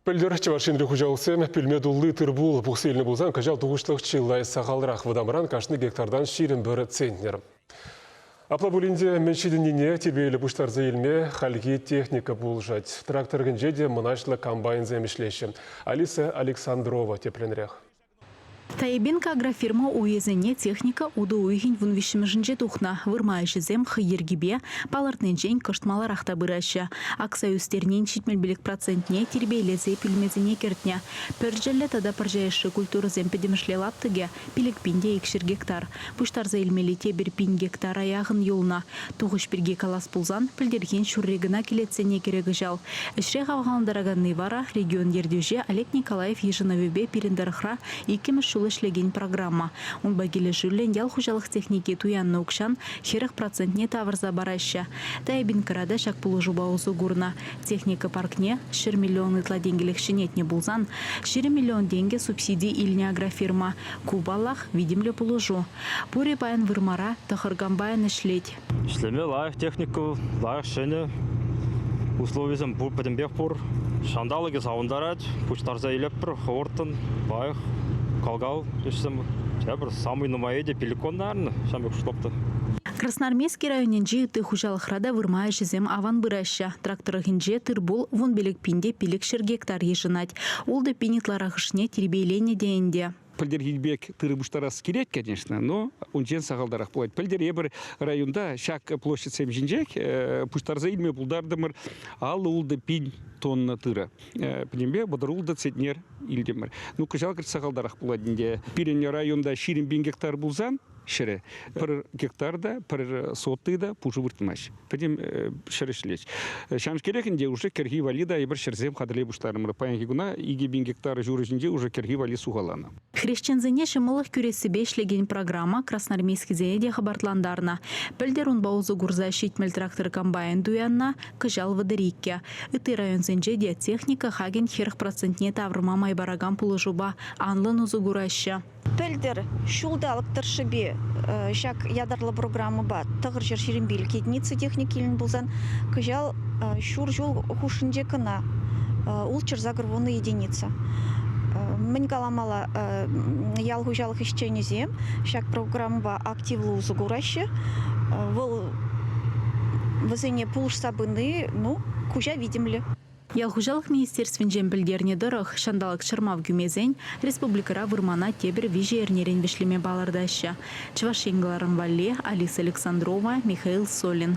Пӗлтӗр Чӑваш Енри хуҫалӑхсем пӳлме тулли тыр-пул пухса илнӗ пулсан кӑҫал тухӑҫлӑх чылай сахалрах. Вӑтамран кашни гектартан ҫирӗм пӗр центнер. Апла пулин те мӗн ҫитӗннине тирпейлӗ пуҫтарса илме хальхи техника пулӑшать. Трактор кӗнче те мӑнаҫлӑ комбайнсем ӗҫлеҫҫӗ. Алиса Александрова тепленрех. Таибенко агрофирма уйӗсене техника утӑ уйӑхӗн вун виҫҫӗмӗшӗнче тухнӑ. Вырма ӗҫӗсем хӑй йӗркипе, палӑртнинчен кӑшт маларах та пыраҫҫӗ. Акса ӳстернин ҫитмӗлпелӗк процентне тирпейлесе пӳлмесене кӗртнӗ. Пӗрчӗллӗ тата пӑрҫаешши культурӑсем пӗтӗмӗшле лаптӑкӗ пилӗк пин те икҫӗр гектар. Пуҫтарса илмелли тепӗр пин гектара яхӑн юлнӑ. Тухӑҫ пирки калас пулсан, пӗлтӗрхин ҫурри кӑна кӗлетсене кӗрӗ кӑҫал. Ӗҫре хавхалантараканни вара, регион ертӳҫи Олег Николаев йышӑнӑвӗпе пирӗн тӑрӑхра иккӗмӗш ҫул ӗҫлекен программа. Унпа килӗшӳллӗн ял хуҫалӑх техники туяннӑ укҫан хӗрӗх процентне тавӑрса параҫҫӗ. Тайбинкра та ҫак пулӑшупа усӑ курнӑ. Техника паркне ҫӗр миллион ытла тенкӗлӗх ҫӗнетнӗ пулсан, ҫирӗм миллион тенкӗ субсиди илнӗ агрофирма. Ку, паллах, витӗмлӗ пулӑшу. Пурӗ паян вырмара, тӑхӑр комбайн ӗҫлет. Ӗҫлеме лайӑх техника вӑл, лайӑх ҫӗнӗ. Условисем пур, пӗтӗмпех пур. Ҫанталӑкӗ савӑнтарать. Пуҫтарса илӗппӗр хӑвӑрттӑн, лайӑх кал-кал ӗҫсем. Тепӗр самый нумаййи те пиликон, наверное, ҫав пек штопта. Красноармейски районӗнчи ытти хуҫалӑхра та вырма ӗҫӗсем аван пыраҫҫӗ. Трак тӑрӑхӗнче тыр-пул вун пилӗк пин те пилӗк ҫӗр гектар йышӑнать. Ултӑ пин ытларахӑшне тирпейленӗ те ӗнтӗ. Пӗлтӗрхи пек тырӑ пуҫтарас килет, конечно, но унчен сахалтарах пулать. Пӗлтӗр эпир районта ҫак площадьсем ҫинчех э, пуҫтарса илме пултартӑмӑр аллӑ ултӑ пин тонна тырӑ. Э, пӗтӗмпе вӑтӑр ултӑ центнер илтӗмӗр. Ну, кӑҫал сахалтарах пулать ӗнтӗ. Пирӗн районта ҫирӗм пин гектар пулсан, ҫӗрӗ. Пӗр гектар та, пӗр сотый та пушӑ выртмасть. Пӗтӗм ҫӗр ӗҫлет. Ҫамскерех ӗнтӗ уже кӗрхи валли та эпир ҫӗрсем хатӗрлей пуҫларӑмӑр. Паянхи куна икӗ пин гектар ҫур ҫинче уже кӗрхи валли сухаланӑ. Хресченсене ҫӑмӑллӑх кӳрессипе ӗҫлекен программа красноармейскисене те хӑпартлантарнӑ. Пӗлтӗр унпа усӑ курса ҫитмӗл трактор-комбайн туяннӑ, кӑҫал вӑтӑр иккӗ. Ытти районсенче те техника хакӗн хӗрӗх процентне тавӑрма май паракан пулӑшупа анлӑн усӑ кураҫҫӗ. Пӗлтӗр ҫулталӑк тӑршшӗпе ҫак ятарлӑ программӑпа Тӑхӑрҫӗр Ҫирӗмпил кедница техник илнӗ пулсан, кӑҫал ҫур ҫул хушшинче кӑна ултҫӗр загорвуннӑй единица. Мӗн каламалла, ял хуҫалӑх ӗҫченӗсем ҫак программӑпа активлӑ усӑ кураҫҫӗ. Вӑл вӗсене пулӑшса пыни, ну, куҫа витӗмлӗ. Ял хуҫалӑх министерствинчен пӗлтернӗ тӑрӑх, ҫанталӑк чӑрмав кӳмесен республикӑра вырмана тепӗр виҫӗ эрнерен вӗҫлеме палӑртаҫҫӗ. Чӑваш Ен кӑларӑм валли, Алиса Александрова, Михаил Солин.